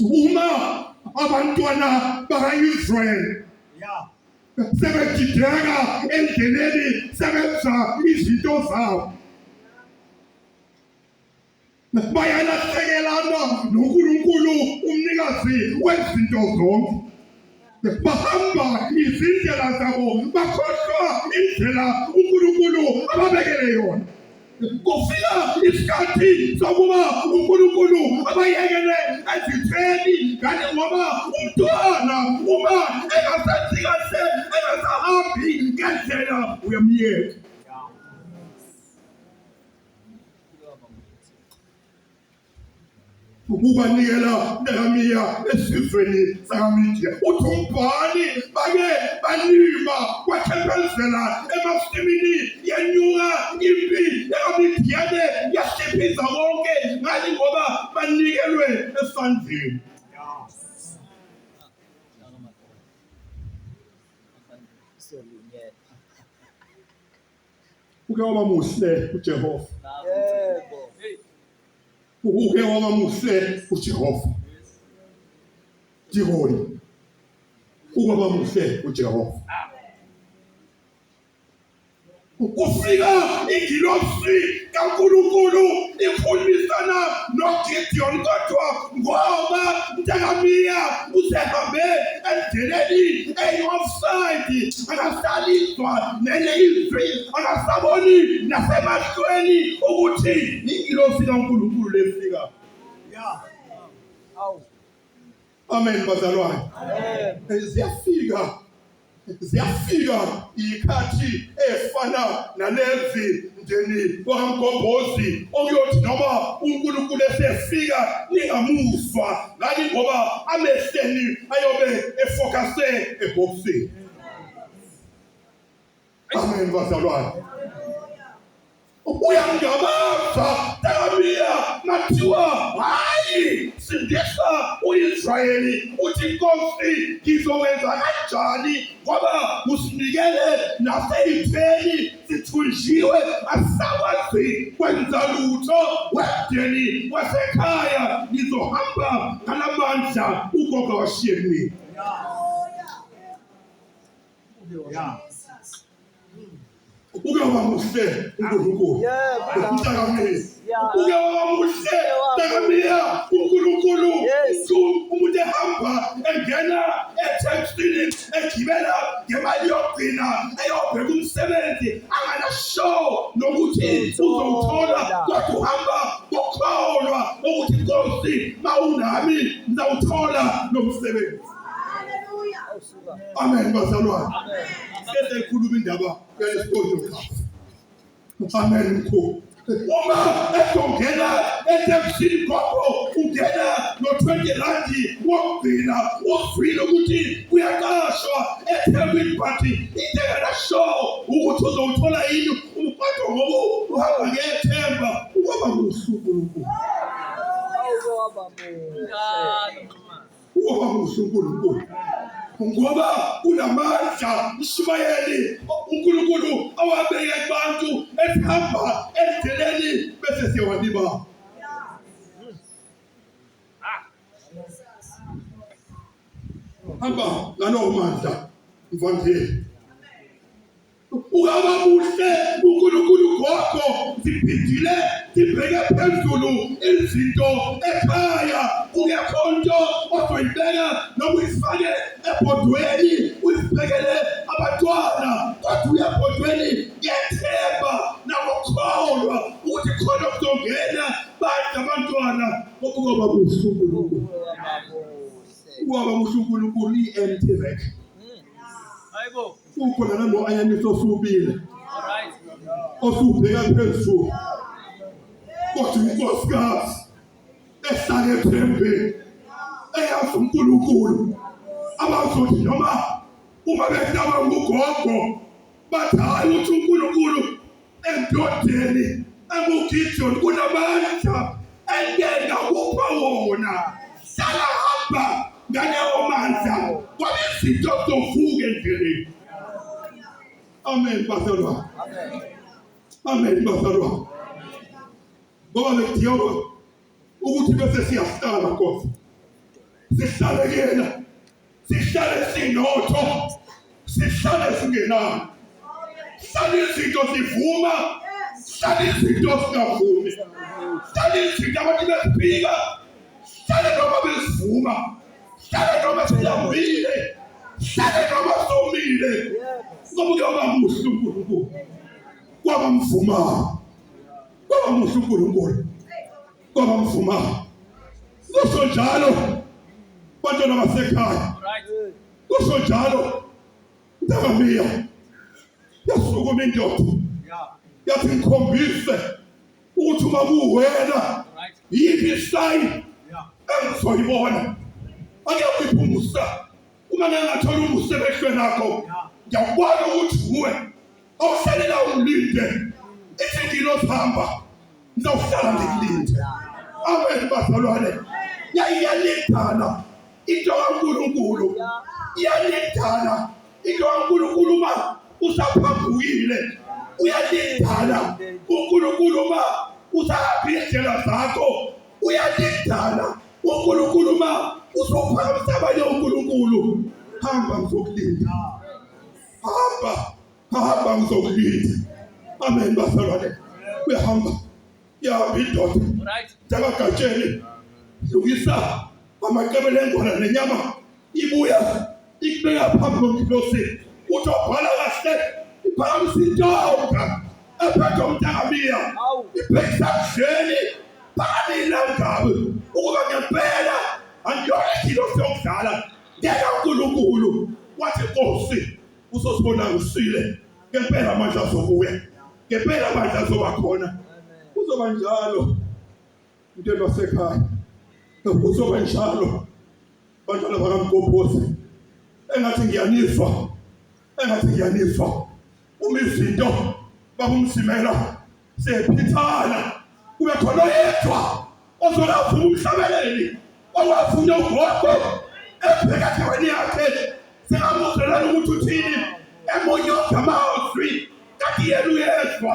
uma abantwana baka-israyeli sebedideka endleleni sebenza izinto zabo bayalahlekelana nonkulunkulu umnikazi wezinto zonke bahamba izindlela zabo bakhohlwa indlela uNkulunkulu ababekele yona kufika isikhathi sokuba uNkulunkulu abayekele ezitheni kanti ngoba umntwana uma engasenzi kahle engasahambi ngendlela uyamyeka ukubanikela ntakamiya esizweni sakamidiya uthi umbhali bake balima kwathempelizela emasimini yanyuka impi yakamidiyane yahliphiza konke ngani ngoba banikelwe esandleni Uke waba muhle uJehova. Yebo. Uke waba muhle uJehova. Dikoni. Uke waba muhle uJehova. Kufika ingilosi kaNkulunkulu ikhulumisana noGideon kodwa ngoba mntakamiya usehambe endleleni eyi-offside akasalizwa nenye izwi akasaboni nasemahlweni ukuthi ingilosi kaNkulunkulu lefika ya awu amen bazalwane amen ziyafika ziyafika ikhathi efana nalezi umndeni wakamgobhozi okuyothi noma unkulunkulu esefika ningamuzwa ngani ngoba amehleni ayobe efokase ebhokisini amen bazalwane uyangabaza Damiya nathiwa hayi sindisa uIsrayeli uthi inkosi ngizokwenza kanjani ngoba usinikele naseyitheni sithunjiwe asisakwazi kwenza lutho wemdeni wasekhaya ngizohamba ngalamandla ugogo washiye kimi uke waba muhle uNkulunkulu. Yebo. Ukhuthakamile. ubuke waba muhle takamia unkulunkulu umuntu ehamba engena ethekstini egibela ngemali yokugcina eyobheka umsebenzi anganasho nokuthi uzowuthola kodwa uhamba ngokholwa ukuthi nkosi ma unami ngizawuthola lo msebenzi amen bazalwane sesikhuluma indaba yalesigodlo Amen mkhulu. Uma ezongena eTemsini kwakho ungena no-20 randi wokugcina uzwile ukuthi kuyaqashwa eThekwini but into enganashowo ukuthi uzowuthola yini umfado ngoba uhamba ngethemba ukwaba kuhle uNkulunkulu. Ayizoba bo. Uma muhle uNkulunkulu ngoba unamandla mshumayeli uNkulunkulu awabeke kubantu esihamba endleleni bese siyawanibala hamba ngalowo mandla mvangeli Ukaba muhle uNkulunkulu gogo siphindile sibheke phezulu izinto ekhaya kungekho nto ozoyibeka noma uyifake ebhodweni uyibhekele abantwana kodwa uya ebhodweni ngethemba nangokukholwa ukuthi khona kuzongena badla abantwana kokuba kuhle uNkulunkulu ubaba muhle uNkulunkulu i-empty rec hayibo Ukhona nalo ayanisa osubile. Osubheka phezulu. Kodwa inkosikazi ehlale ethembeni eyazi uNkulunkulu abazothi noma uma behlaba ngugogo bathi hayi uthi uNkulunkulu Endodeni enguGideon kunamandla engena kupha wona. Hlala hamba ngalewo mandla ngoba izinto zovuka endleleni. Amen bazalwane. Amen bazalwane. Ngoba ngidinga ukuthi bese siyahlala Nkosi. Sihlale kuyena. sihlale sinotho sihlale singenani hlale izinto zivuma hlale izinto singavumi hlale izinto abantu beziphika hlale noma bezivuma hlale noma siyambile hlale noma somile ngoba uyoba muhle unkulunkulu kwaba mvumayo kwaba muhle unkulunkulu kwaba mfuma kusho njalo bantwana basekhaya kusho njalo ndakamiya yasukuma indoda yathi ngikhombise ukuthi uma kuwena yiphi isayini engizoyibona ake uyiphumusa uma ngangathola umusa emehlweni akho ngiyakubona ukuthi uwe awusalela umlinde ithi ngilozohamba ngizawuhlala ngikulinde amen bazalwane yayiyalindana into kaNkulunkulu iyalindana into kaNkulunkulu uma usaphambukile uyalindana uNkulunkulu uma usahambile indlela zakho uyalidala uNkulunkulu uma uzophakamisa abanye uNkulunkulu hamba ngizokulinda hamba hamba ngizokulinda amen bazalwane uyahamba yahamba indoda njakagatsheni lungisa amaqebele engwana nenyama ibuya ikubeka phambi komkhosi uthi obhala kahle iphakamisa intonga ephethe umntakamiya ibhekisa kudleni phakamile ungabi ukuba ngempela angiyona ingilosi yokudlala ngeke unkulunkulu wathi nkosi uzosibona usile ngempela amandla azobuya ngempela amandla azoba khona kuzoba njalo into elasekhaya kuzobe njalo bantwana bakamgobhozi engathi ngiyanizwa engathi ngiyanizwa uma izinto babumsimela sephithana kube khona oyedwa ozolawuvuma umhlabeleli owavuna ugogo ebheka endaweni yakhe singamuzwelana ukuthi uthini emunye ogama ozwi kanti yena uyezwa